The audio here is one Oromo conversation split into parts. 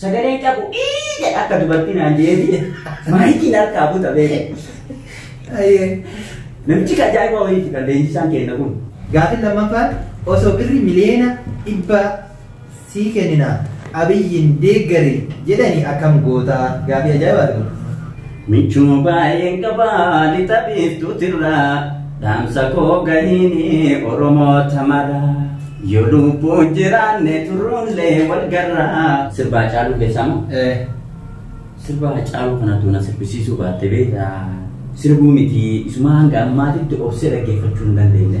Sagaleen qabu ii jedha akka dubartii naan jeetii maayikiin harkaa buta beeku. Namichi kan ajaa'iba wayiiti kan leenjisaan kenna kun. Gaafin lammaffaan osoo birri miliyoona dhibba sii kennina abiyyiin deeggarii jedhanii akkam gootaa gaafii ajaa'ibaati kun. Michuu baay'een qaba lixa biiftuutirraa dhaamsa koo gahiini oromoota maraa yoo lubbuun jiraanne turruunlee wal garraa. Sirbaa Haacaaluu keessaa moo? Eh. Sirba Haacaaluu kanatu na sirbisiisuu baatte beekta. Sirbuu miti isuma hanga ammaatitti obsee dhaggeeffachuu hin dandeenye.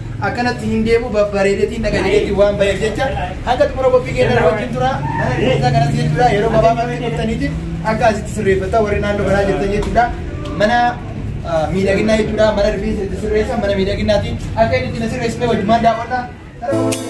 akkanatti hin deemu babbareedetiin dhaga jedheetiin waan baheef jecha hanga xumura qophii keenya irra wajjin tura isaa kanatti jechuudha yeroo gabaabaatti turtaniitiif akka asitti sirreeffattaa warri naannoo kanaa jirtan jechuudha mana ah, miidhaginaa jechuudha mana rifeensa itti sirreessa mana miidhaginaati akka inni itti na sirreessine wajjumaan daawwadha. Karaa-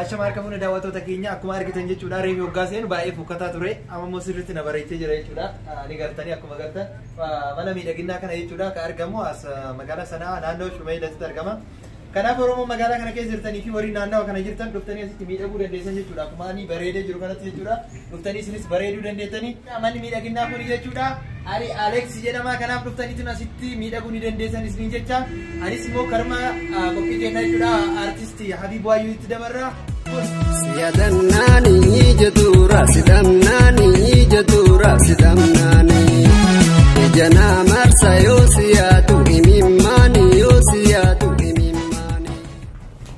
Ashama harka fuune daawwattoota keenya akkuma argitan jechuudha reefi hoggaa seenu baay'ee fokkataa ture amma immoo sirriitti na bareechee jira jechuudha ni gartanii akkuma gartan Mana miidhaginaa kana jechuudha kan argamu as magaalaa Sana'aa naannoo Shumeeylatitti argama. Kanaaf Oromoo magaalaa kana keessa jirtanii fi warri naannawa kana jirtan dhuftanii asitti miidhaguu dandeessan jechuudha. Akkuma ani bareedee jiru kanatti jechuudha. Dhuftanii isinis bareeduu dandeessanii. Manni miidhaginaa kun jechuudha. Ari Aleeks jedhama kanaaf dhuftaniitu asitti miidhaguu ni dandeessan isiniin jecha. Anis immoo karma qophii keenna jechuudha. Artisti Habiib Waayyuu itti dabarra. Siyadannaani jetuura sidamnaani jetuura sidamnaani ija naa marsa yoo siyaadu imimmaani yoo siyaadu imimmaani.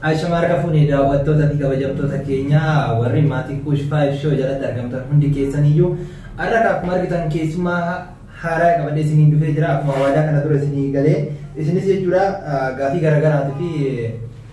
Ashama harka fuunee daawwattoota fi kabajamtoota keenyaa warri maatii kuush faayif shoo jalatti argamtan hundi keessaniyyuu har'a akkuma argitan keessumaa haaraa qabadhee isiniin dhufee jira akkuma waadaa kana dura isinii galee isinis jechuudha gaafii garaagaraatii fi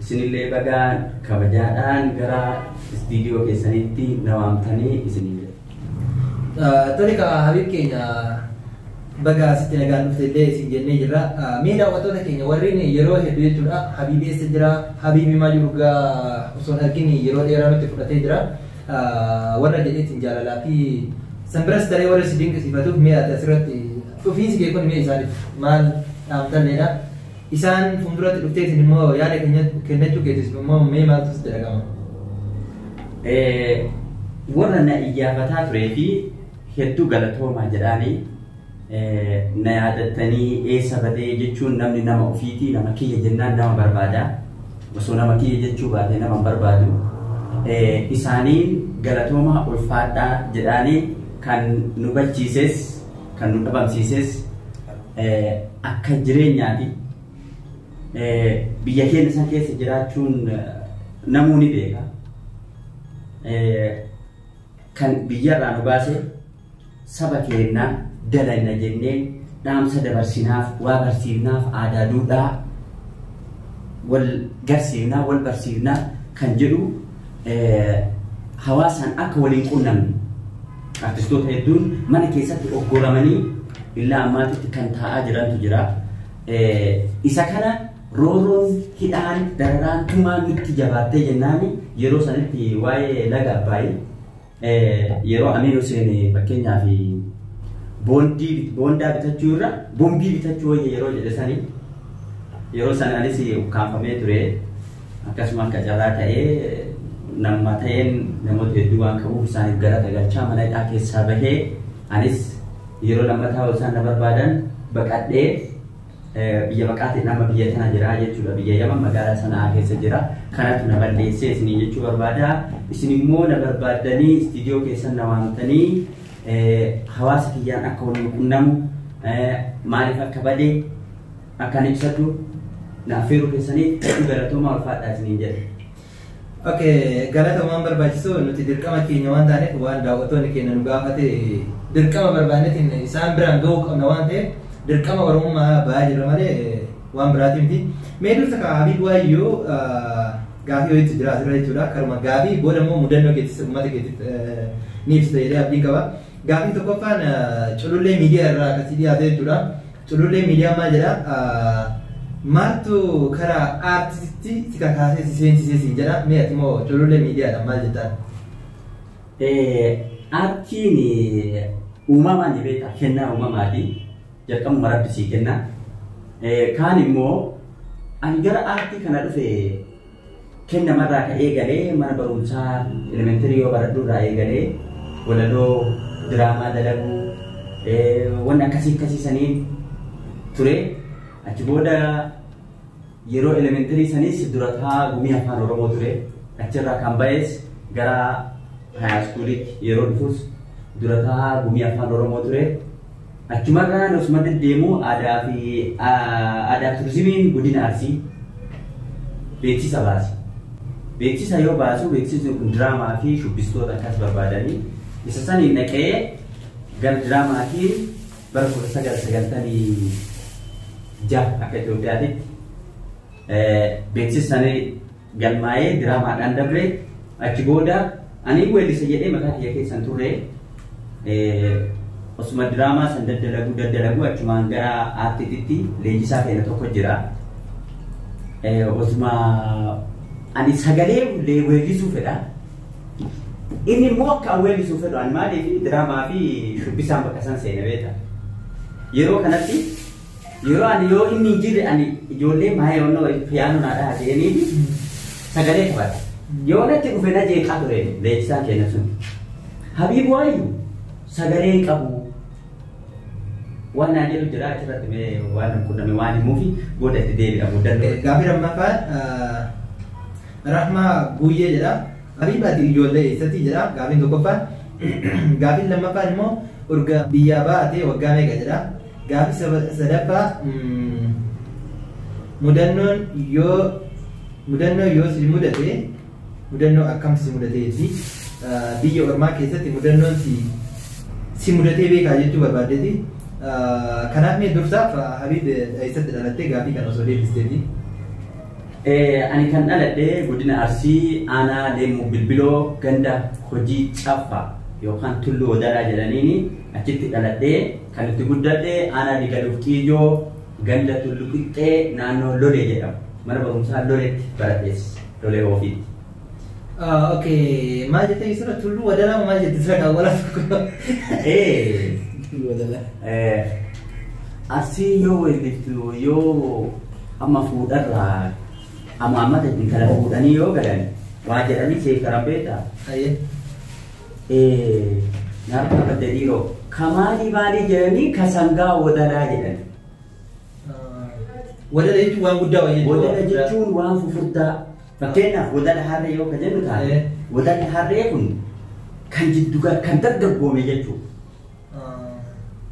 Isinillee baga kabajaadhaan gara istiidiyoo keessaniitti na waamtanii isiniin jedha. Tole kaa Habiib keenya baga asitti nagaan dhufte illee isin jennee jirra. Mee daawwattoota keenya warreen yeroo hedduu jechuudha Habiib eessa jira Habiib himaa jiru gaa osoo hin argin yeroo dheeraa nutti fudhatee jira. Warra jedheetiin jaalalaa fi san biras daree warra si dinqisiifatuuf mee ati asirratti dhufiinsi kee kun mee isaaniif maal dhaamtalleedha. Isaan fuulduratti dhuftee isin immoo yaada keenya- kennachuu keetis immoo mee maaltu sitti dhaga'ama? Eh, warra na iyyaafataa turee fi hedduu galatoomaa jedhaanii eh, na yaadattanii eessa badee jechuun namni nama ofiitii nama kiyya jennaan nama barbaada osoo nama kiyya jechuu baatee nama hin barbaadu Eh, isaaniin galatoomaa ulfaadhaa jedhaanii kan nu bachiises kan nu dhabamsiises Akka jireenyaati. Biyya keenya san keessa jiraachuun namuu ni beeka. Kan biyyarraa nu baase saba keenya dalayna jennee dhaamsa dabarsinaaf waa barsiifnaaf aadaa duudhaa wal garsiifnaa wal barsiifnaa kan jedhu hawaasaan akka waliin qunnamne Artistoota hedduun mana keessatti oggoramanii illaa ammaatitti kan taa'aa jirantu jira. Isa kana roorroon hidhaan dararaan tumaan nutti jabaattee jennaan yeroo sanitti waa'ee laga abbaayii yeroo Amiin Huseen fakkeenyaaf boondii boondaa bitachuu irra bombii bitachuu wayya yeroo jedhe sanii yeroo sana anis ukkaamfamee ture. Akkasumaan qacarraa ta'ee namuma ta'een namoota hedduu waan qabuuf isaaniif galata galchaa mana hidhaa keessaa bahee anis yeroo lammataa isaan na barbaadan baqadhee biyya baqaatiin amma biyya tana jira jechuudha biyya yaman magaalaa sanaa keessa jira kanatu na balleessee isinii jechuu barbaada isin immoo na barbaaddanii istiidiyoo keessan na waamtanii hawaasa kiyyaan akka wal quunnamu maaliif akka bade akkaan ibsadhu na affeeruu keessaniif hedduu galatoomaa ulfaadhaa isiniin jedha. Okay, galata waan barbaachisu nuti dirqama keenya waan taaneef waan daawwattoonni keenya nu gaafate dirqama barbaannetiin isaan biraan ga'uu qabna waan ta'eef dirqama oromummaa ba'aa jirra malee waan biraatiin miti. Mee dursa kaa Habiib Waayyoo gaafii wayiitu jira asirra jechuudha. Karuma gaafii booda immoo mudannoo keettis uummata keetti ni ibsita jedhee abdiin qaba. Gaafii tokkoffaan culullee miidiyaa irraa akkasii dhiyaate jechuudha. Culullee miidiyaan maal jedha maaltu karaa aartistitti si kakaasee si seensisee siin jedha mee ati moo culullee miidiyaadhaan maal jettaan? Aartiin uumamaan ni beektaa kennaa uumamaati jalqabuma rabbi sii kenna kaan immoo ani gara aartii kana dhufe Kenna marraa ka eegalee mana barumsaa elementarii yoo baradhu irraa eegalee walaloo diraamaa dalaguu wanni akkasii akkasii saniin ture achi booda yeroo elementarii sanis durataa gumii afaan oromoo ture achirraa kan ba'es gara haayaskuuliitti yeroo dhufus durataa gumii afaan oromoo ture. Achumarraan osuma deddeemu aadaa fi aadaa turizimiin godina Arsii beeksisa baase. Beeksisa yoo baasu beeksisni kun diraamaa fi shubbistoota akkas barbaadanii isa saniin dhaqee gara diraamaatiin bara 1996 akka Itoophiyaatitti beeksisanii galmaa'ee diraamaadhaan dabre achi booda ani weellisa jedhee mataa kiyya keessan turre osuma diraamaa san daddalagu daddalagu achumaan gara aartiititti leenjisaa keenya tokko jira. Osuma ani sagalee illee weellisuu fedha. Inni immoo akka an weellisuu fedhu ani maaliif diraamaa fi shubbisaan bakka san seena beekta. Yeroo kanatti Yeroo ani yoo inni hin jirre ani ijoollee maayee wanna wayii piyaanoo naa dhaha jedhaniiti sagalee taphata. Yoo natti dhufe na jeeqaa ture leenjisaan keenya sun. Habiib waayu sagalee hin qabu. Waan naan jedhu jira achirratti mee waan hin qunname waan himuufi booda itti deebi'a muudannoo. Gaafii lammaffaan Rahmaa Guyyee jedha. Habiib ati ijoollee eessatti jedha gaafiin tokkoffaan. Gaafiin lammaffaan immoo urga biyyaa baate waggaa meeqa jedha. Gaaffii saba- sadaffaa mm, mudannoon yoo mudannoo yoo si mudate mudannoo akkam si mudatee jetti Ah, biyya ormaa keessatti mudannoon si si mudatee beekaa jechuu barbaaddeeti Ah, kanaaf mee dursaaf ah, habiib eh, eessatti dhalattee gaaffii kana osoo deebisteeti Eh, ani kan dhaladhe godina arsii aanaa leemuu bilbiloo ganda hojii caffa yookaan tulluu wadalaa jedhaniini achitti dhaladhee Kan itti guddadhe aanaa Digaluuf Xiyyoo ganda Tullu Qixxee naannoo Lolee jedhamu. Mana barumsaa Loleetti baradhes. Lolee Oofiitti. Okay, maal jettee isirra tulluu wadaraa moo maal jette isirra kaawwalaa tokko? Ee, Tulluu wadalaa. eh, Arsii yoo weellistu yoo amma fuudharraa amma ammata intala fuudhanii yoo galan waa jedhanii seekaran beektaa? Ayyee. Naaf gaafadda dhiiroo. Ka maalii maalii jedhanii ka sangaa wodalaa jedhan. Wadala jechuun waan guddaa wayii jechuudha. Wodala jechuun waan fufurdaa. Fakkeenyaaf wodala harree yoo ka jennu taate Eh. wodalli harree kun kan jiddu kan dargaggoome jechuudha.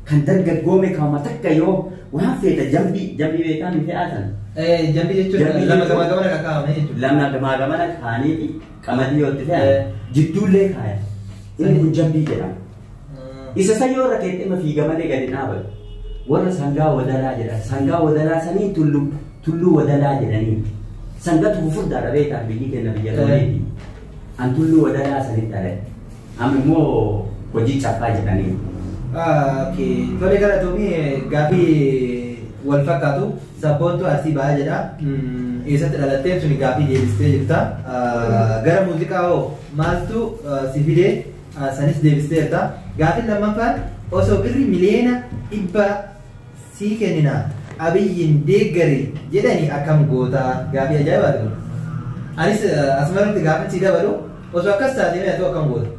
Kan dargaggoome kauma takka yoo waan feeta jambii jambii beekaa miti haatan. Eh, jambi jechuun Jambi lama jechuun- gama gamana kan kaa'ame jechuudha. Lama gamaa gamana kaanii fi qamadii yoo itti fe'an Eh. jidduullee kaaya. Inni kun jambii jedhama. Mm. Isa san yoo irra keetti ima fiiga malee gadi dhaabatu. Warra sangaa wadalaa jedhan. Sangaa wadalaa sanii tulluu tulluu wadalaa jedhanii. Sangatu fufurdaadha beekaa biyyi keenya biyya Eh. Romeetii. An Tulluu Wadalaa sanitti dhaladhe. Amma immoo hojii caffaa jedhaniiru. Okay. Tole galatoomi gaaffii wal fakkaatu sabboontuu arsii ba'aa jedha. Mm, Eessatti dhalatteef suni gaaffii deebistee jirta. Ah, Gara muuziqaa hoo maaltu ah, si fidee ah, sanis deebisteerta. Gaaffiin lammaffaan osoo birri miliyoona dhibba sii kennina abiyyiin deeggari jedhani akkam goota gaafii ajaa'ibaati kun anis asmarratti gaafin sii dabalu osoo akkas taatee mee atoo akkam goota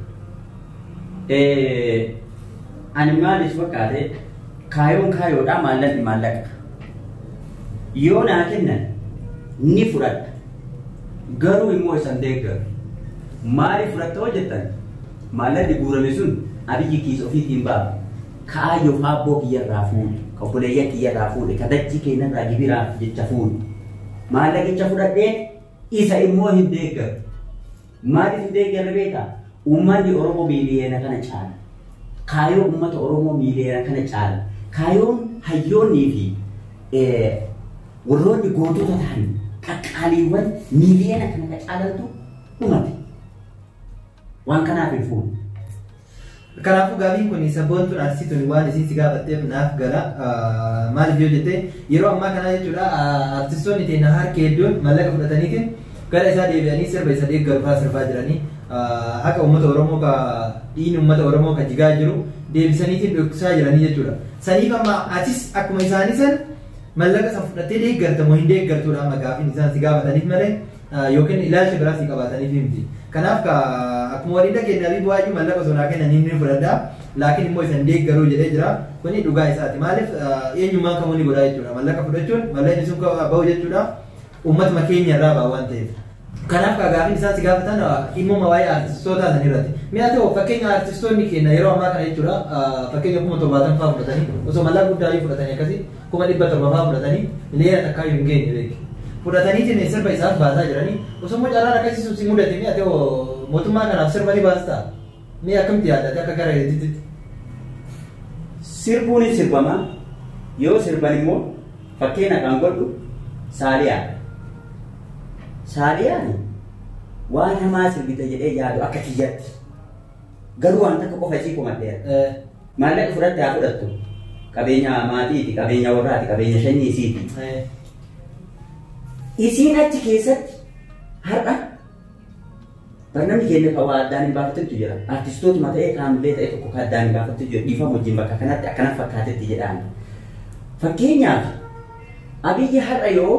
ani maaliif fakkaate kaayoon kaayoodha maallaqni maallaqa yoo naa kennan ni fudhadha garuu immoo isan deeggaru maaliif fudhatta hojjettan maallaqni guurame sun abiyyi kiis ofiitiin ba'a Ka'aa yoo ka abboo kiyya irraa fuudhe, ka obboleeyyan kiyya irraa fuudhe, ka dachii keenna irraa gibiraaf jecha fuudhe, maallaqicha fudhadhee isa immoo hin deeggaru. Maaliif hin deeggarre beektaa? Ummanni Oromoo miiliyoona kana caala. Kaayoo ummata Oromoo miiliyoona kana caala. Kaayoon hayyoonnii fi warroonni gootota ta'an qaqqaaliiwwan miiliyoona kana ka caalantu dhumate. Waan kanaaf hin fuudhu. Kanaafuu gaafiin kun sabboontuun artisii tuni waan isiin si gaafatteef naaf gala. Maaliif yoo jette yeroo ammaa kanaa jechuudha artistoonni teenya harki hedduun mallaqa fudhataniitiin gara isaa deebi'anii sirba isa deeggaru fa'aa sirbaa jiranii haqa uummata Oromoo ka dhiigni uummata Oromoo ka jigaa jiru deebisaniitiin dhoksaa jiranii jechuudha. Saniif amma atis akkuma isaanii san mallaqa san fudhattee deeggarta moo hin deeggartuudha amma gaafiin isaan si gaafataniif malee. yookiin ilaalcha biraa sii qabaataniif miti. Kanaaf ka akkuma walii dhageenye Abiy Bu'aayyuu mallaqa osoo naa kennan inni fudhadha. Laakiin immoo isan deeggaruu jedhee jira. Kuni dhugaa isaati. Maaliif eenyummaan kamuu ni godhaa jechuudha. Mallaqa fudhachuun mallaqni sun bahu jechuudha. Uummatuma keenya irraa ba'a waan ta'eef. Kanaaf ka gaafiin isaan si gaafatan dhimmuma waa'ee artistoota san irratti. Mi'a ta'u fakkeenya artistoonni keenya yeroo ammaa kana jechuudha fakkeenya kuma torbaatamfaa fudhatanii osoo mallaqa guddaa fudhatanii akkasii kuma dhibba torba fa'aa fudhatanii miliyoona takkaa hin geenye beeki. Fudhataniitiin sirba isaaf baasaa jiranii osoo immoo carraan akkasii sun si mudate mi'a ta'e mootummaa kanaaf sirba ni baastaa mi'a akkamti yaadate akka gara hedduutti. Sirbuun hin sirbamaa yoo sirban immoo fakkeenya kan godhu saaliyaa. Saaliyaan waan hamaa sirbite jedhee yaadu akka kiyyatti Garuu waan takka qofa isii komadheera. Eh, Maallaqa ofirratti haa fudhattu. Qabeenya maatiiti, qabeenya warraati, qabeenya shanyii isiiti. eh, Isiin achi keessatti har'a barnamni keenya kan waa addaan hin baafattetu jira. Artistootuma ta'ee kaamilee ta'e tokko kan addaan hin baafattetu jira. Dhiifama wajjin bakka kanatti akkana fakkaatetti jedhaan. Fakkeenyaaf Abiyyi har'a yoo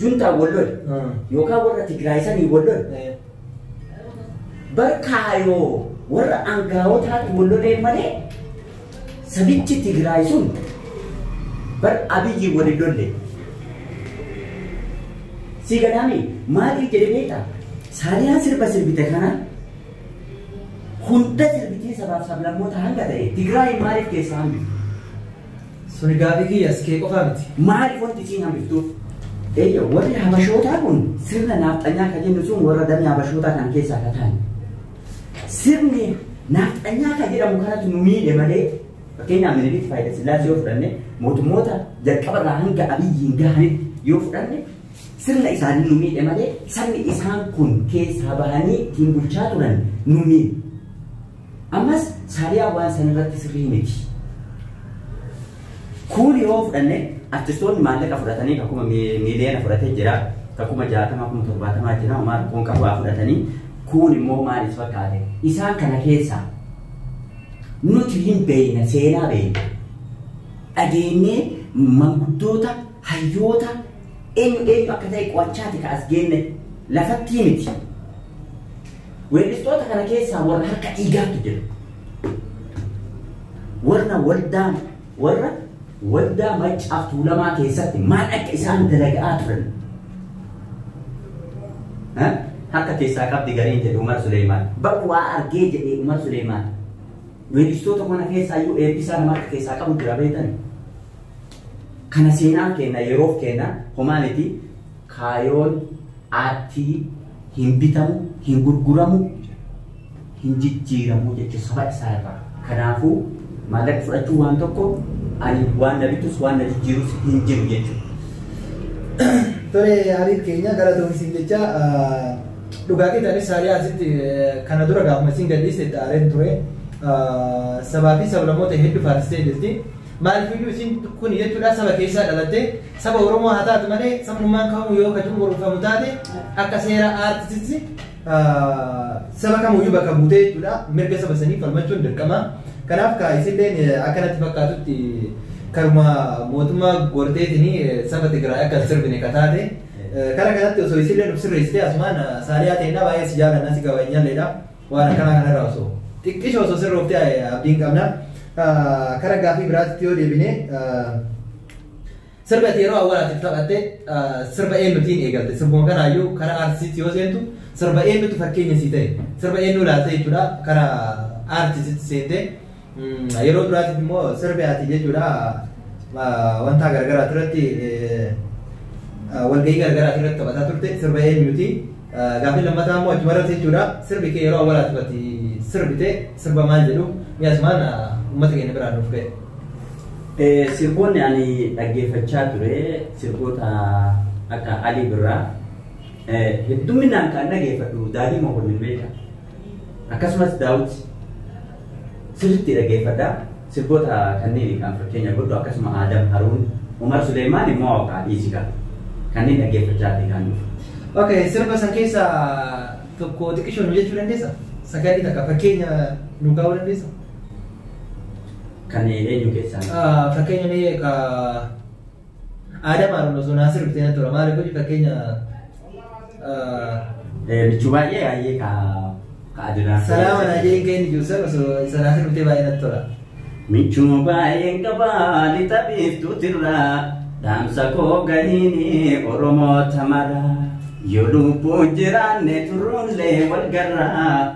Juntaan wal lole Hmm. yookaan warra Tigraay sanii wal lole Eh, bar kaayoo warra aangaawotaatti wal lolee malee sabichi Tigraay sun bar abiyyi wal hin lolle. Si gadaami maaliif jedhe beektaa? Saaliyaan sirba sirbite kana hunda sirbitee sabaaf sablammoota hanga ta'e Tigraay maaliif keessaa hambifte? Suni gaafii kiyyas kee qofaa miti. Maaliif wanti isiin hambiftuuf? Eeyya warri habashootaa kun sirna naafxanyaa kan jennu sun warra damee habashootaa kan keessaa kan ta'an. Sirni naafxanyaa kan jedhamu kanatu nu miidhe malee fakkeenyaaf Minilik Faayidaa Sillaasee yoo fudhanne mootummoota jalqaba irraa hanga abiyyiin gahanitti yoo fudhanne sirna isaanii nu miidhe malee sabni isaan kun keessaa bahanii ittiin bulchaa turan nu miidhe. Ammas Saaliyaa waan san irratti sirrii miti. Kuun yoo fudhanne artistoonni maallaqa fudhatanii ka kuma mi- miiliyoona fudhatee jira, ka kuma jaatamaa kuma torbaatamaa jira, homaa rakkoon qabu waa fudhatanii kuun immoo maal is fakkaate. Isaan kana keessaa nuti hin beeyna seenaa beeyna. Dhageenyee manguddoota hayyoota eenyu eenyu akka ta'e qo'achaati ka as geenne lafattii miti. Weellistoota kana keessaa warra harka dhiigaatu jira. Warra waldaa warra waldaa maccaaf tuulamaa keessatti maal akka isaan dalaga'aa turan. Ha? Harka keessaa qabdi gariin jedhe Umar Suleemaan. Bar waa argee jedhe Umar Suleemaan. Weellistoota kana keessaa iyyuu eebbisaa nama harka keessaa qabu jira beektan. Kana seenaan keenya yeroof keenya homaa miti Kaayoon aartii hin bitamu, hin gurguramu, hin jijjiiramu jechuun saba isaa irraa. Kanaafuu maallaqni fudhachuun waan tokko ani waan na bitus waan na jijjiirus hin jiru jechuudha. Tole Ariif keenya galatoomi siin jecha dhugaa keeti anis saarii asitti kana dura gaafuma siin gadhiiste itti aareen ture sabaa fi sablamoota hedduu faaristee jirti. Maaliif iyyuu isiin kun jechuudha saba keessaa dhalattee Saba Oromoo haa taatu malee sabummaan kamuu yoo ka cunqurfamu taate akka seera aartistitti saba kamuyyuu bakka buutee jechuudha mirga saba sanii falmachuun dirqama. Kanaaf ka isilleen akkanatti fakkaatutti karuma mootummaa gorteetiin saba Tigraay akka sirbine ka taate. Kara kanatti osoo isilleen of sirreessitee asumaan saaliyaa ta'inna baay'ee si jaalannaa si kabajnalleedha waan akkanaa kanarraa osoo xiqqisho osoo sirrooftee abdiin qabna. Kara gaafii biraatti yoo deebine Sirba ati yeroo awwaalaatiif taphatte sirba eenyutiin eegalte? Sirbuma kanaayyuu karaa aartistiitti yoo seentu sirba eenyutu fakkeenya sii ta'e? Sirba eenyuu laalte jechuudha karaa aartistiitti seentee yeroo duraatiif immoo sirbi ati jechuudha wanta garagaraati irratti walgahii garagaraati irratti taphataa turte sirba eenyuti? Gaaffiin lammataa immoo achuma irratti jechuudha. Sirbi kee yeroo awwaalaa tuqati sirbite sirba maal jedhu mi'a asumaan uummata keenya biraan nuuf ga'e. Sirboonni ani dhaggeeffachaa ture sirboota akka Alii Birraa hedduminaan kan dhaggeeffadhu Daadhii Mokonnin beeka. Akkasumas Daawit sirriitti dhaggeeffadha. Sirboota kanniin kan fakkeenya godhu akkasuma Aadam Haruun, Umar Suleeymaan immoo Awqaa dhiisi kaa. Kanniin dhaggeeffachaa ati kaan dhufu. Okay, sirba san keessa tokko xiqqishoo nu jechuu dandeessa? Sagalli takka fakkeenya nu kaa'uu dandeessa? Kan eenyu keessaa? Ah, Fakkeenya mee ka Aadam Aaron osoo Naasir bitee natti tola. Maaliif hojii fakkeenya Michuu baay'ee baay'ee ka ka adinaa. salaama naa jedhin kee inni jiru san osoo isa Naasir bitee baay'ee natti tola. Michuu baay'een qabaa lixa biiftuutirraa dhaamsa koo gahiini Oromoo tamara. Yoo lubbuun jiraanne turruunlee wal garraa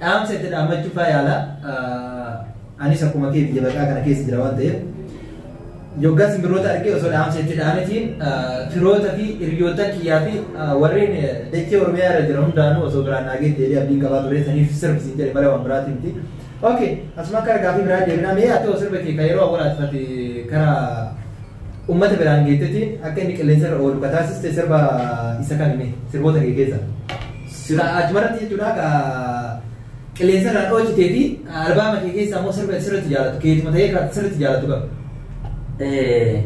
Dhaamsa itti dhaammachuu faa yaala. Anis akkuma kee biyya baqaa kana keessa jira waan ta'eef. Yoggaan simbirroota argee osoo dhaamsa itti dhaametiin firoota fi hiriyoota kiyyaa fi warreen dachee Oromiyaa irra jiran hundaanuu osoo biraan naagee deebii abdiin qabaa ture saniif sirbi siin jedhe malee waan biraatiin miti. Ok, asuma akka argaa fi biraa deebinaa mee ati osoo sirba kee kan yeroo awwaal ati karaa uummata biraan geettetiin akka inni qilleensa irra oolu kataasiste sirba isa kan sirboota kee keessa. Silaa achumarratti jechuudha ka qilleensa irraa dhoocitee fi albaama kee keessaa immoo sirba sirriitti jaalatu keetuma ta'ee kan sirriitti jaalatu qaba. Eh,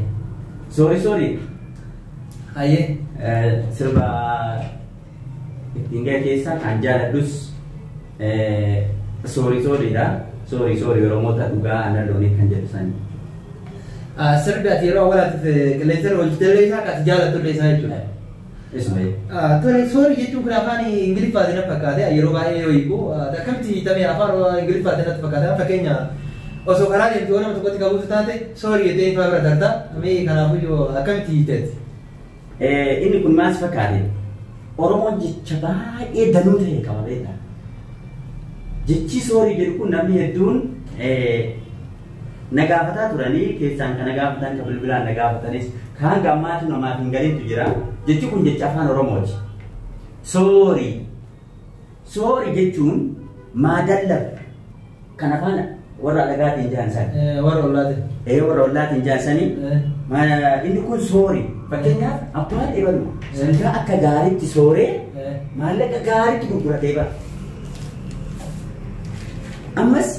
Sorry sorry. Hayyee. Eh, Sirba ittiin ga'e keessaa kan jaaladhus eh, sorry sorry dha. Sorry sorry Oromoota dhugaa aannan loonii kan jedhu sani. Ah, Sirbi ati yeroo awwaalaatiif qilleensa irra hojjetee isaa kan ati jaalatu illee isaa jechuudha. Ismail. Tole sorry jechuun kun afaan Ingiliffaatiin na fakkaate yeroo baay'ee yoo hiiku akkamitti hiitamee afaan Ingiliffaatiin natti fakkaate fakkeenya osoo karaa deemtu yoo nama tokkotti qabuutu taate sorry jettee ifaa bira darta mee kanaafuyyuu akkamitti hiiteetti. Eh, Inni kun maal si fakkaate? Oromoon jecha baay'ee danuu ta'e qaba beektaa? Jechi soorii jedhu kun namni hedduun eh, Na gaafataa turanii keessaan ka na gaafatan ka bilbilaan na gaafatanis ka hanga ammaatu namaaf hin galintu jira. Jechi kun jecha afaan Oromooti. Soorii. Soorii jechuun maadallaf kan afaan warra alagaatiin jaan san. Eh, Warra ollaati. Ee warra ollaatiin jaan sanii Eh, Ma- inni kun soori fakkeenyaaf abbaan ebalu sangaa akka gaariitti sooree eh, maallaqa gaariitti gurguratee bara ammas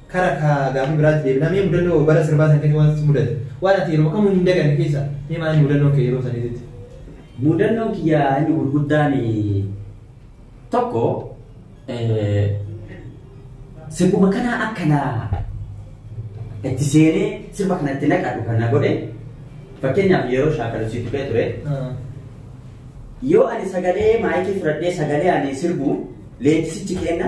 Kara ka gaafii biraatti deebinaa mee mudannoo bara sirbaa san keessa waan si mudate waan ati yeroo kamuu hin daganne keessa mee maal inni mudannoon kee yeroo saniititti? Mudannoon kiyya inni gurguddaan tokko sirbuma kana akka na itti seenee sirba kana itti naqadhu kan na godhe fakkeenyaaf yeroo shaakalu si tuqee ture yoo ani sagalee maayikii fudhadhee sagalee ani sirbu leenjisichi kenna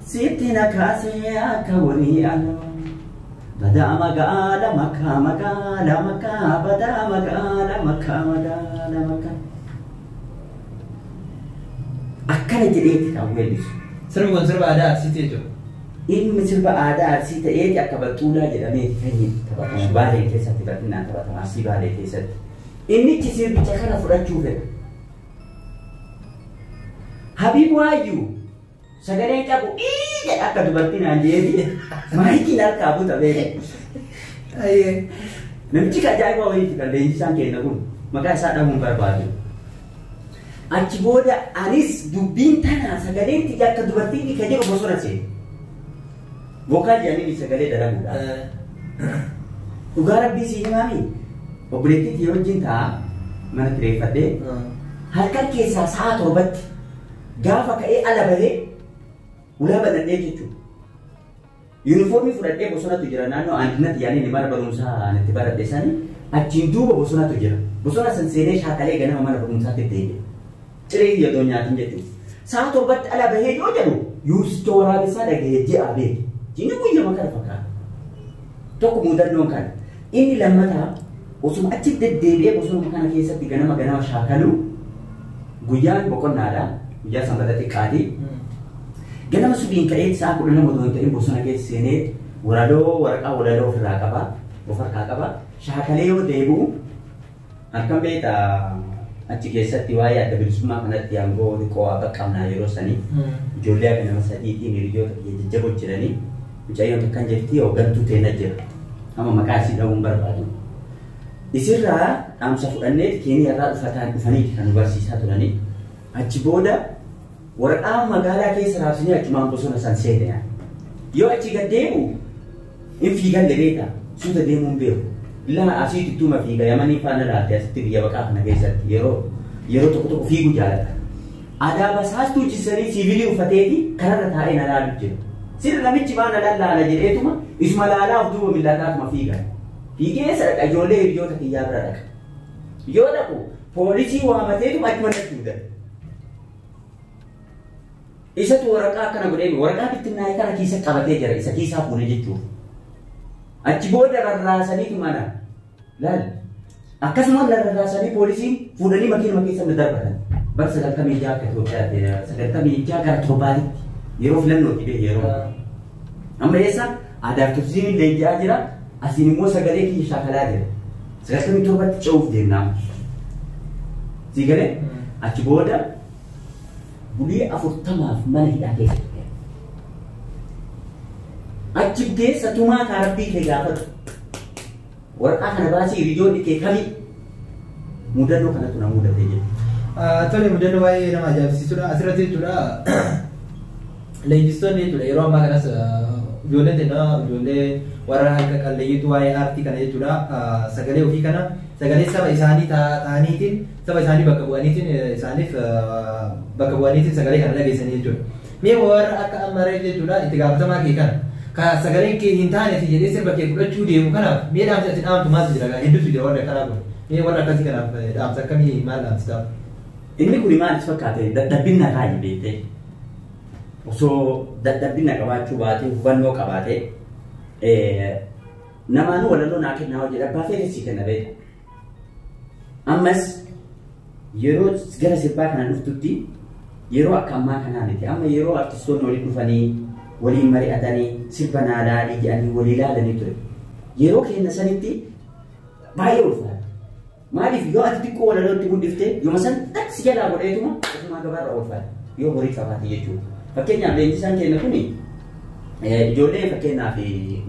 Sitti na kaasee akka wanii aloo. Badaa magaala makkaa magaala makkaa badaa magaala makkaa magaala makkaa. Akkana jedheeti kan weellisu. Sirbi kun sirba aadaa Arsiiti jechuudha. Inni sirba aadaa Arsii ta'eeti akka Baxxuulaa jedhamee kan taphatamu Baalee keessatti bal'inaan taphatama Arsii Baalee keessatti. Innichi sirbicha kana fudhachuu fedha. Habiib Waayyuu Sagaleen cabu ii jedha akka dubartii naan jeetii maayikiin harkaa buta beeku. Namichi kan ajaa'ibaa wayiiti kan leenjisaan keenya kun maqaa isaa dhahuun barbaadu. Achi booda anis dubbiin tanaa sagaleen tiyya akka dubartii ni kan jedhu bosona seenu. Vokaal jedhanii sagalee dalaguudha. Dhugaa rabbii si himaami. Obboleettii tiyya wajjin taa'aa mana kireeffadhee halkan keessaa sa'a torbatti Gaafa ka'ee ala bahee ulaa banadhee jechuudha. Yuunifoormii fudhadhee bosonatu jira naannoo aantinatti yaaliin mana barumsaa ani itti baradhe sani achiin duuba bosonatu jira. Bosona san seenee shaakalee ganama mana barumsaatti itti hidhe. Ciree kiyya otoo nyaatin jechuudha. Sa'a torbatti ala bahee yoo jedhu yuusicha waraabessaa dhagahee ji'a beeku. Jiini guyyama kana fakkaata. Tokko muudannoon kana. Inni lammataa osuma achi deddeebi'ee bosonuma kana keessatti ganama ganama shaakaluu guyyaan boqonnaadha. Guyyaa sanbata xiqqaati. Ganama subiin ka'ee sa'a kudha lama otoo hin ta'in bosona keessa seenee walaloo waraqaa walaloo ofirraa qaba. Of harkaa qaba. Shaakalee yoo deebi'u Akkam beekta achi keessatti waa'ee adda bilisummaa kanatti aangoo xiqqoo waa qaqqabnaa yeroo sanii ijoollee akka nama sadiitiin hiriyoota biyya jajjaboo jiranii mucayyoon takkan jirti hooggantuu teenna jira. Amma maqaa isii dhahuun barbaadu. Isirraa dhaamsa fudhannee keeniyaarraa dhufataan dhufaniiti kan nu barsiisaa turanii. Achi booda Waraqaa magaalaa keessa raabsinee achumaan bosona san seene yaa. Yoo achi gad deemu hin fiigalle beektaa suuta deemuu hin beeku. Laa asii tuttuuma fiiga yamanii faana laalte asitti biyya baqaa kana keessatti yeroo yeroo tokko tokko fiiguu jaalata. Adaaba saastuu jissanii siivilii uffateeti kararra taa'ee na laalu jira. Sirri namichi baa na lallaala jedheetuma isuma laalaa of duuba millaataatuma fiiga. Fiigee eessa dhaqa ijoollee hiriyoota kiyyaa bira dhaqa. Yoo dhaqu poolisii waamateetuma achuma natti hidhata. Isatu waraqaa akkana godhee waraqaa bittinnaa'e kana keessa qabatee jira isa keessaa fuudhee jechuudha. Achi booda rarraasaniitu mana laal akkasuma rarraasanii poolisiin fuudhanii makiinuma keessa na darbatan. Bara sagaltamii ja'a akka Itoophiyaatti sagaltamii ja'a gara torbaatitti yeroo filannooti bee yeroo. Amma eessa aadaaf turizimiin leenji'aa jira. Asiin immoo sagalee kiyya shaakalaa jira. Sagaltamii torbatti ce'uuf deemnaa. Sii galee achi booda bulii afurtamaaf mana hidhaa keessa ture. Achi keessa tumaa kaa rabbii kee gaafatu. Waraqaa kana baasii hiriyoonni kee kami mudannoo kanatu na mudate jedhu. Tole mudannoo baay'ee nama ajaa'ibsiisudha. Asirratti jechuudha leenjistoonni jechuudha yeroo ammaa kanas ijoolleen teenna ijoollee warra harka qalleeyyiitu waa'ee aartii kana jechuudha sagalee ofii kana sagalee saba isaanii ta'aniitiin saba isaanii bakka bu'aniitiin isaaniif bakka bu'aniitiin sagalee kana dhageessanii jechuudha. Mee warra akka amma ree jechuudha itti gaafatamaa kee kana ka sagaleen kee hin taane si jedhee sirba kee fudhachuu deemu kanaaf mee dhaamsi ati dhaamtu maaltu jira gaa hedduutu jira warri akkanaa kun mee warra akkasii kanaaf dhaamsa akkamii maal dhaamsitaa? Inni kun maal si fakkaate dadhabbinna kaayi beektee osoo dadhabbinna qabaachuu baatee hubannoo qabaatee namaanuu walaloo naa kennaa hojii dhabbaa feenis si kenna beekta. Ammas yeroo gara sirbaa kana dhuftutti yeroo akka ammaa kanaa miti. Amma yeroo artistoonni waliin dhufanii waliin mari'atanii sirba naa laalii jedhanii walii laalanii ture. Yeroo keenya sanitti baay'ee ulfaata. Maaliif yoo ati xiqqoo walalootti guddifte yooma san si jalaa godheetuma ofumaa gabaarra oolfaata. Yoo horii qabaate jechuudha. Fakkeenyaaf leenjisaan keenya kun Ijoollee fakkeenyaaf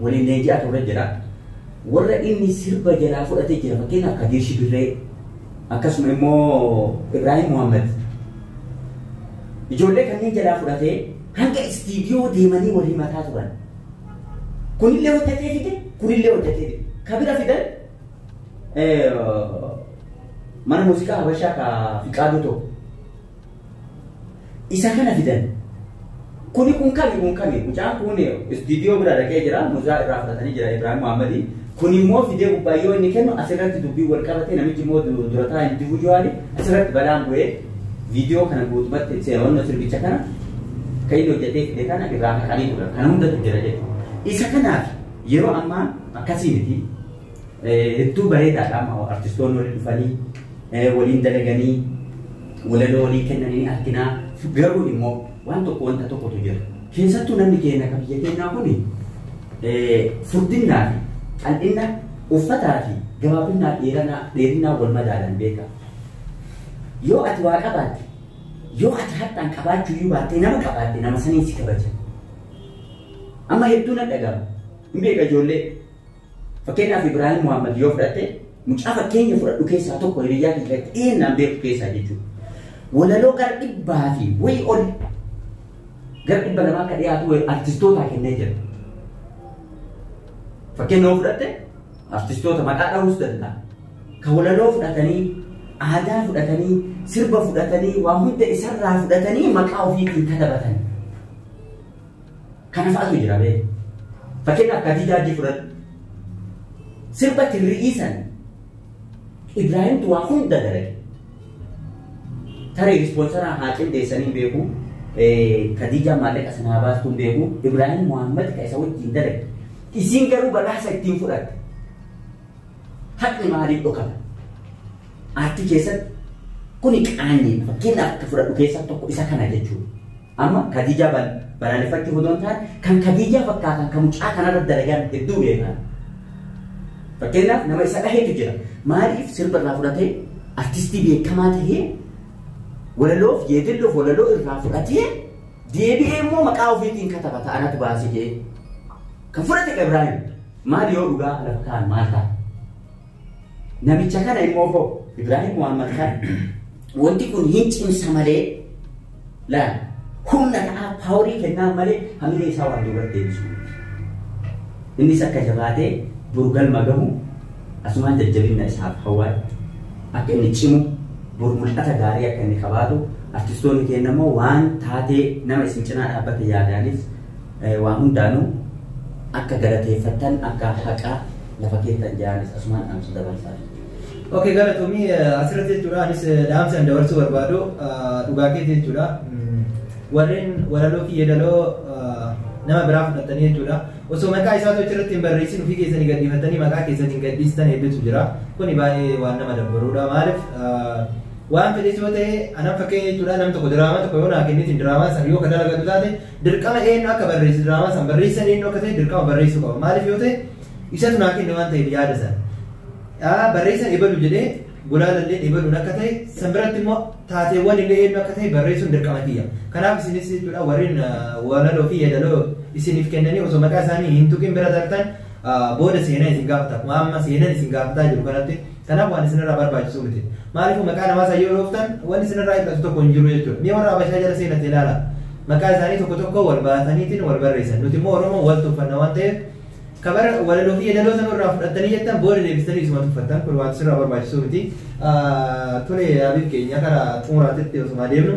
waliin leenji'aa turre jira. Warra inni sirba jalaa fudhatee jira fakkeenyaaf Kadir Shibirree akkasuma immoo Ibrahim Muhammad. Ijoollee kanneen jalaa fudhatee hanga istiidiyoo deemanii wal himataa turan. Kunillee hojjetee fide, kunillee hojjetee fide. Ka bira fidan mana muuziqaa Habashaa ka Fiqaaduu tokko. Isa kana fidan. Kuni kun kami kun kami mucaan kun istiidiyoo bira dhaqee jira mucaa irraa fudhatanii jira Ibrahim Muhammadi. Kun immoo fidee gubbaa yoo inni kennu asirratti dubbii wal qabatee namichi immoo du- durataa individuaali asirratti balaan bu'ee viidiyoo kana guutumatti seewwanno sirbicha kana kan inni hojjetee fide kana irraa haqanii turan. Kana hundatu jira jechuudha. Isa kanaaf yeroo ammaa akkasii miti. Hedduu bareedaadha amma artistoonni waliin dhufanii waliin dalaganii walaloo walii kennanii arginaa garuu immoo waan tokko wanta tokkotu jira. Keessattuu namni keenya kan biyya keenyaa kun furdinnaa fi qal'inna uffataa fi gabaabinnaa dheerinaa dheerinaa wal madaalan beeka. Yoo ati waa qabaatte yoo ati har'aan qabaachuu iyyuu baattee nama qabaatte nama saniin si kabaja. Amma hedduu na dhaga'ama. Hin beeka ijoollee Fakkeenyaaf Ibraahim Muhammad yoo fudhatte mucaa fakkeenya fudhadhu keessaa tokko hiriyyaa kee keessatti dhiyeennaan beektu keessaa jechuudha. Walaloo gara dhibbaa fi wayii ol gara dhibba lamaa akka dhiyaatu wayii artistootaa kennee jira. Fakkeenya yoo fudhatte artistoota maqaa dhahuus danda'a. Kan walaloo fudhatanii aadaa fudhatanii sirba fudhatanii waa hunda isarraa fudhatanii maqaa ofiitiin katabatan. Kana fa'atu jira bee. Fakkeenyaaf Kadii Jaajii fudhadhu. Sirba tirri'ii san Ibraahimtu waa hunda dalage. Tarii ispoonsaraa haa qindeessanii hin beeku. Kadiijaa maallaqa sana haa baastu hin beeku. Ibraahim Muhammad ka isa wajjin dalage. Isiin garuu badhaasa ittiin fudhatte. Haqni maaliif dhokata? Aartii keessatti kuni qaanyiidha. Fakkeenyaaf akka fudhadhu keessaa tokko isa kana jechuudha. Amma Kadiijaa balaaleffachuu hodoo hin taane kan Kadiijaa fakkaatan kan mucaa kanarra dalagan hedduu beekan. Fakkeenyaaf nama isa dhahetu jira. Maaliif sirba irraa fudhatee artistii beekamaa tahee walaloof yeedalloof walaloo irraa fudhatee deebi'ee immoo maqaa ofiitiin kataba ta'anatu baasee kan fudhate Ibraahim maal yoo dhugaa lafa kaan maal ta'a? Namicha kana immoo hoo Ibraahim Muhammad kana wanti kun hin cimsa malee laal humna ta'aa paaworii kennaa malee hamilee isaa waan duubatti deebisu. Innis akka jabaatee burgalma gahu asumaan jajjabinna isaaf hawwaa akka inni cimu bor mul'ata gaarii akka inni qabaatu artistoonni keenya immoo waan taatee nama isin cinaa dhaabbate yaadaanis Waan hundaanuu akka galateeffattan akka haqa lafa keessan jaanis asumaan dhaamsa dabarsaa. Ok galatoomii asirratti jechuudha anis dhaamsi an dabarsuu barbaadu dhugaa keetii jechuudha. Warreen walaloo fi yeedaloo nama biraa fudhattanii jechuudha. Osoo maqaa isaa tochi irratti hin barreessin ofii keessanii gadhiifattanii maqaa keessanii gadhiistan hedduutu jira. Kuni baay'ee waan nama dabbaruudha. Maaliif waan fedhes yoo ta'e anan fakkeenya jechuudha nam tokko diraamaa tokko yoo naa kennitin diraamaa sana yoo ka dalagatu taate Dirqama eenyu akka barreessu diraamaa san barreessan eenyu akka ta'e dirqama barreessuu qaba. Maaliif yoo ta'e isatu naa kenne waan ta'eef yaada san. Barreessan ebalu jedhee gulaalallee ebaluun akka ta'e san biratti immoo taateewwan illee eenyu akka ta'e barreessuun dirqama kiyya. Kanaaf isinis jechuudha warreen walaloo fi yeedaloo isiniif kennanii osoo maqaa isaanii hin tuqin bira dartan booda seenaa isin gaafata. Amma seenaan isin gaafataa jiru kanatti Kanaaf waan isinirraa barbaachisu miti. Maaliifuu maqaa namaa san yoo dhooftan wanni isinirraa hir'atu tokko hin jiru jechuudha. Mee warra Habashaa jala seenatti ilaalaa. Maqaa isaanii tokko tokko wal baataniitiin wal barreessan. Nuti immoo Oromoon wal tuffanna waan ta'eef ka bara walaloo fi yeedaloo sanuu irraa fudhattanii jettan booda deebistanii isuma tuffattan kun waan isinirraa barbaachisu miti. Tole Habiib keenya kara xumuraatitti osuma deemnu.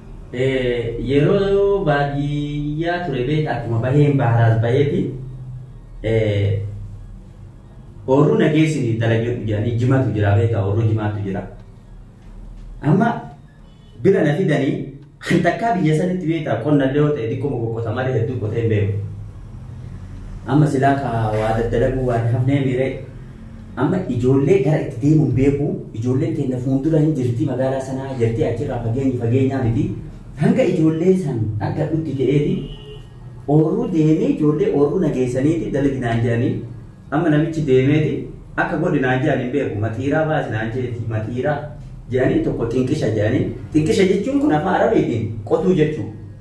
Yeroo yeroo baadiyyaa ture beektaa akkuma baheen baaraas baheeti oorruu nageessiniif dalagadhu jedhanii jimatu jira beektaa oorruu jimaatu jira. Amma bira na fidanii kan takkaa biyya sanitti beektaa qonna illee yoo ta'e xiqqoo qoqqota malee hedduu qotee hin beeku. Amma silaa kaa waa daddalaguu waan hafnee miiree Amma ijoollee gara itti deemu hin beeku, ijoolleen teenna fuundura hin jirti magaalaa sanaa jettee achirraa fageenyi fageenyaa miti. Hanga ijoollee san argadhutti ka'eeti oorruu deemee ijoollee oorruu na geessaniiti dalagi naan jedhanii amma namichi deemeeti akka godhi naan jedhan hin beeku maxiiraa baasi naan jedheeti maxiiraa jedhanii tokko xinqisha jedhanii xinqisha jechuun kun afaan arabiitiin qotuu jechuudha.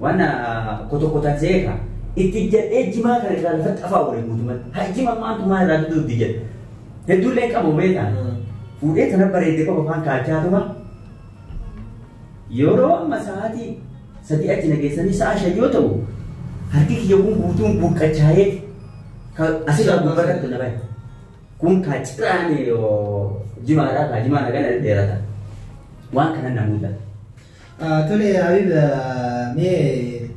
Waan kotokotan seeka itti jedhee jimaa kana irraa lafa xafaa waliin guutumatti. Haa jima maantu maal irraa duduu itti jedhe. Hedduullee hin qabu beekaan. Fuudhee tana bareedee qofa afaan kaachaa tuma. Yeroo amma sa'aatii sadii achi nageessanii sa'a shan yoo ta'u harki kiyya kun guutuun buqqachaa'ee asirraa gubbarratti na bahe. Kun kaa ciraanii jimaadhaa kaa jimaa nagan dheerata. Waan kana na mudata. Tole Habib mee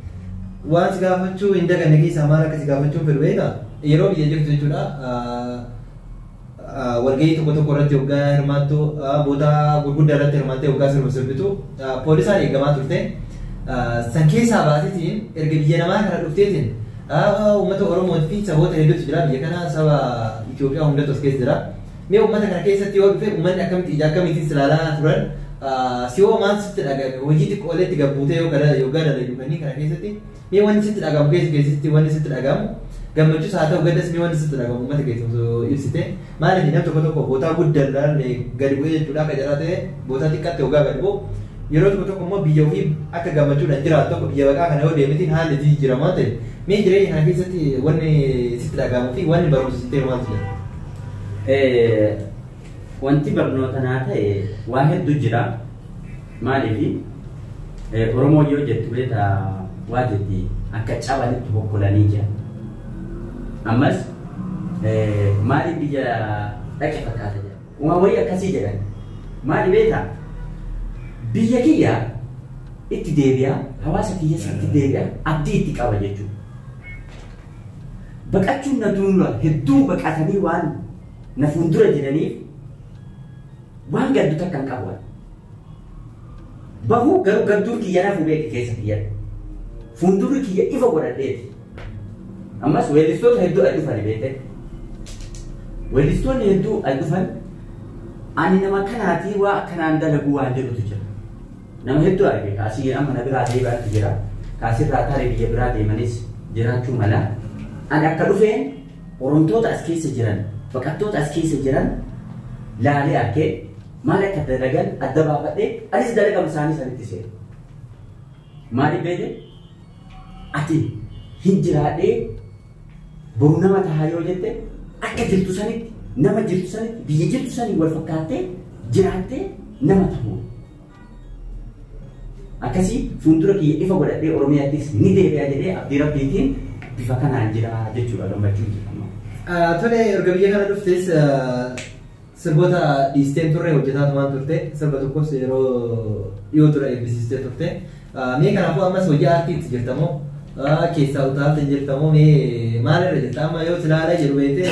waan si gaafachuu hin daganne keessaa maal akka si gaafachuun fedhu beektaa? Yeroo biyya jirtu jechuudha. Walgahii tokko tokko irratti hoggaa hirmaattu bootaa gurguddaa irratti hirmaattee hoggaa sirba sirbitu poolisaan eegamaa turte. San keessaa baasitiin erga biyya namaa kana dhufteetiin uummata Oromoo fi saboota hedduutu jira biyya kana saba Itoophiyaa hundatu as keessa jira. Mee ummata kana keessatti yoo dhufe ummanni akkamitti ija akkamiitiin si ilaalaa turan si'oo maal sitti dhaga'ame hojii xiqqoolee itti gabbuutee yoo gara yoggaa dalaydu kanneen kana keessatti mee wanni sitti dhagahamu keessa keessatti wanni sitti dhagahamu gammachuus haa ta'u gaddas mee wanni sitti dhagahamu ummata keessa osoo ibsite maaliif nam tokko tokko bootaa guddaa ilaalle gadi bu'ee jechuudha akka jaraa ta'e bootaa xiqqaatti yoggaa gadi bu'u yeroo tokko tokko immoo biyya ofii akka gammachuudhaan jiraatu tokko biyya baqaa kana yoo deemetiin haalli jijjiirama waan ta'eef mee jireenya kana keessatti wanni sitti dhagahamuu fi wanni barumsa sitti hiru maaltu jira? Wanti barnoota naa ta'e waa hedduu jira. Maaliif Oromoo yoo jettu beeta waa jetti akka cabanitti hokkolanii jira. Ammas maaliif biyya dhaqe fakkaata jira. Waan wayii akkasii jedhan. Maali beeta biyya kiyya itti deebi'a hawaasa kiyyas itti deebi'a abdii itti qaba jechuudha. Baqachuun na duula hedduu baqatanii waan na fuuldura jiraniif waan gaddu takka hin qabu. Bahuu garuu gadduun kiyya nafu beeki keessa kiyyatti. Fuuldurri kiyya ifa godhadheeti. Ammas weellistoota hedduu as dhufan beekte. Weellistoonni hedduu as dhufan ani nama kanaatii waa akkanaan dalaguu waan jedhutu jira. Nama hedduu arge ka asii amma na biraa deebi'antu jira, ka asirraa tarii biyya biraa deemanis jiraachuu mala. Ani akka dhufeen Oromtoota as keessa jiran, baqattoota as keessa jiran laalee arke, maal akka dalagan adda baafadhe, anis dalagama isaanii sanitti seene. Maaliif beekte? Ati hin jiraadhee boru nama tahaa yoo jette akka jirtu sanitti, nama jirtu sanitti, biyya jirtu saniin wal fakkaattee jiraattee nama tahuu. akkasii fuuldura kiyya ifa godhadhee Oromiyaattis ni deebi'a jedhee abdii rabbiitiin bifa kanaan jira jechuudha gammachuu jedhama. Tole erga biyya kana dhuftes sirboota dhiisteen turre hojjetaa tumaan turte sirba tokkos yeroo dhiyoo ture eebbisiistee turte. Mee kanaafuu ammas hojii aartiitti jirtamoo keessaa utaalta jirtamoo mee maalirra jirta amma yoo silaalee jedhu beektee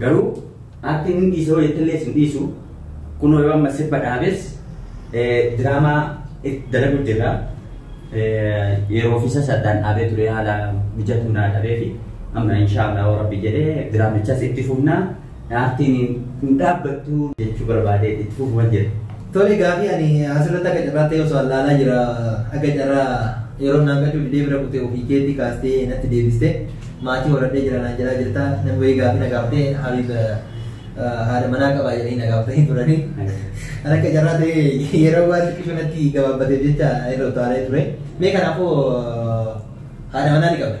Garuu aktiin hin dhiisa yoo jettellee sin dhiisu kunoo yoo amma sirba dhaabes diraamaa itti dalagu jirra. Yeroo ofiisa saddaan dhaabee ture haala mijatu naa dhabee fi amma inshaallah yoo rabbi jedhee diraamichas itti fufna dhaabtiin hin dhaabbattu jechuu barbaadee itti fufuman jira. Tole gaafii ani asirratti akka carraa ta'e osoo allaalaa jira akka carraa yeroo naan gadhuu didee bira kutee ofii keetii kaastee natti deebiste maatii horadhee jira naan jedhaa jirta namni wayii gaafii na gaafatee habiib haadha manaa qabaa jedhanii na gaafatanii turanii kan akka carraa ta'e yeroo waan xiqqishu natti gabaabbateef jecha irra utaalee ture mee kanaafuu haadha manaa ni qabda.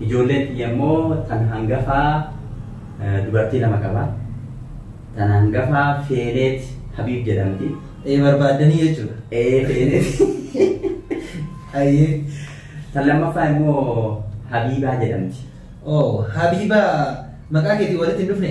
Ijoolleen tiyya immoo tan hangafaa dubartii lama qaba. Tan hangafaa Feeneet Habiib jedhamti. Ee barbaaddanii jechuudha. Ee Feeneet. Ayyee. Tan lammaffaa immoo Habiibaa jedhamti. Oo Habiibaa maqaa keetii walitti hin dhufne?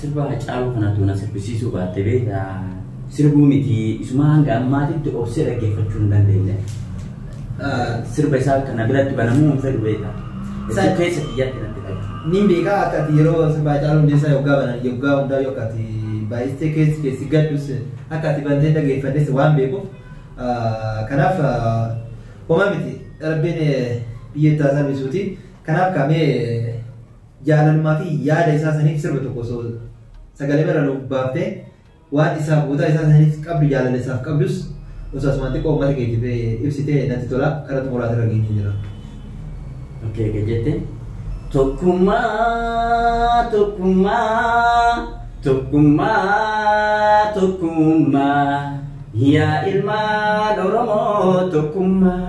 Sirba Hacaaluu kana utuu na sirbisiisuu baatte beekta sirbuu miti isumaa hanga ammaatitti obsee dhaggeeffachuu hin dandeenye. Sirba isaa kana biratti banamuu hin fedhu beekta. Jechuun keessa kiyyaatti natti ta'e. Niin beekaa akka ati yeroo sirba Hacaaluu Hundeessaa yoggaa banan yoggaa hundaa yoo akka ati baay'istee keessi keessi gaddus akka ati bantee dhageeffannes waan beekuuf kanaaf homaa miti rabbiin biyya itti haa salphisuuti. Kanaaf kaamee jaalalumaa fi yaada isaa saniif sirba tokko osoo sagalee irra nuuf baaftee waan isaaf boodaa isaa saniif qabdu jaalala isaaf qabdus osoo asumaan xiqqoo uummata keetiif eh, ibsitee natti tola karaa xumuraas irra geenyee jira. Okkee egaa jette. Tokkummaa tokkummaa tokkummaa tokkummaa yaa ilmaan Oromoo tokkummaa.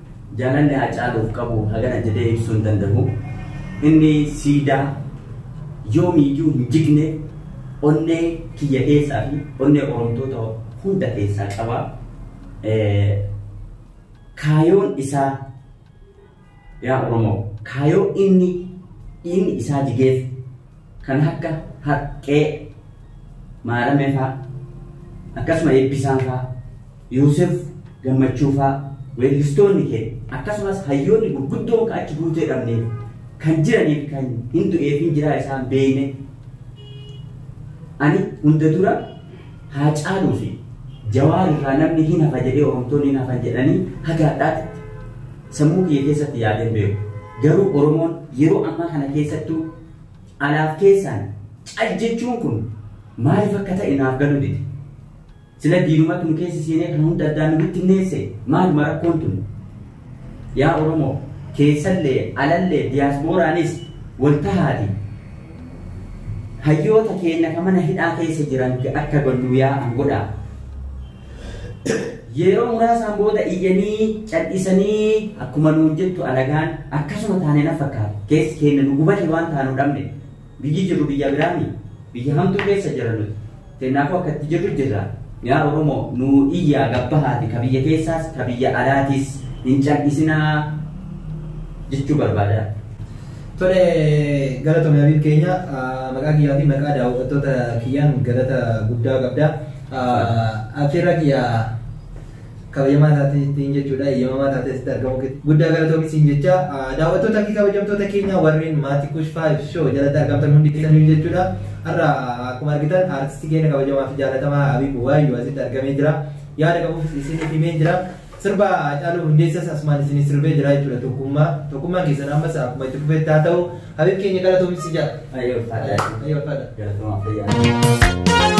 Jaalalli Haacaaluuf qabu hagana jedhee ibsuu hin danda'u. Inni siidaa yoomiyyuu hin jigne onnee kiyya keessaa fi onnee Oromtoota hunda keessaa qaba. Kaayoon isaa yaa Oromoo kaayoo inni dhiigni isaa jigeef kan akka Haqqee, Maaramee faa akkasuma Eebbisaan faa, Yoosef Gammachuu faa weellistoonni keenya akkasumas hayyoonni gurguddoon ka achi guutee dhabneef kan jiraniif kan hin du'eefin jiraa isaan beeyne ani hunda dura haa caaluu fi jawaar irraa namni hin hafa jedhee oromtoonni hin hafan jedhanii haga hadhaatitti Sammuu kiyya keessatti yaadeen beeku. Garuu Oromoon yeroo ammaa kana keessattuu alaaf keessaan cal jechuun kun maaliif akka ta'e naaf galuu dide. Sila diinumatu nu keessa seenee kan hunda addaan nu bittinneesse maaluma rakkoon tun? Yaa Oromoo keessallee alallee diyaaspooraanis wal tahaati. Hayyoota keenya ka mana hidhaa keessa jiran akka gannuu yaa'an godhaa. Yeroo muraasaan booda iyyanii cadhisanii akkuma nuun jettu alagaan akkasuma taane na fakkaata keessi keenya nu gubate waan taanu dhabne biyyi jirru biyya biraami biyya hamtuu keessa jira nuti kennaafuu akka itti jirru jirra yaa oromoo nu iyyaa gabbahaati ka biyya keessaas ka biyya alaatis hin cadhisinaa jechuu barbaada. Tole galatoomi Habiib keenya maqaa kiyyaa fi maqaa daawwattoota kiyyaan galata guddaa qabda. Afeerraa kiyya kabajamaa taateen jechuudha eeyyamamaa taatee asitti argamu guddaa galatoomi siin jecha daawwattoota fi kabajamtoota keenya warreen maatii kush faayiv shoo jalatti argamtan hundi keessaniif jechuudha har'a akkuma argitan aartistii keenya kabajamaa fi jaalatamaa Habiib Waayyuu asitti argamee jira yaada qabuuf isiniif himee jira Sirba Hacaaluu Hundeessas asumaan isinii sirbee jira jechuudha tokkummaa. Tokkummaan keessan ammas akkuma itti fufetti haa ta'u. Habib keenya galatoomi si jala. Ayyoo faadha. Ayyoo faadha. Galatoomaa fayyaa.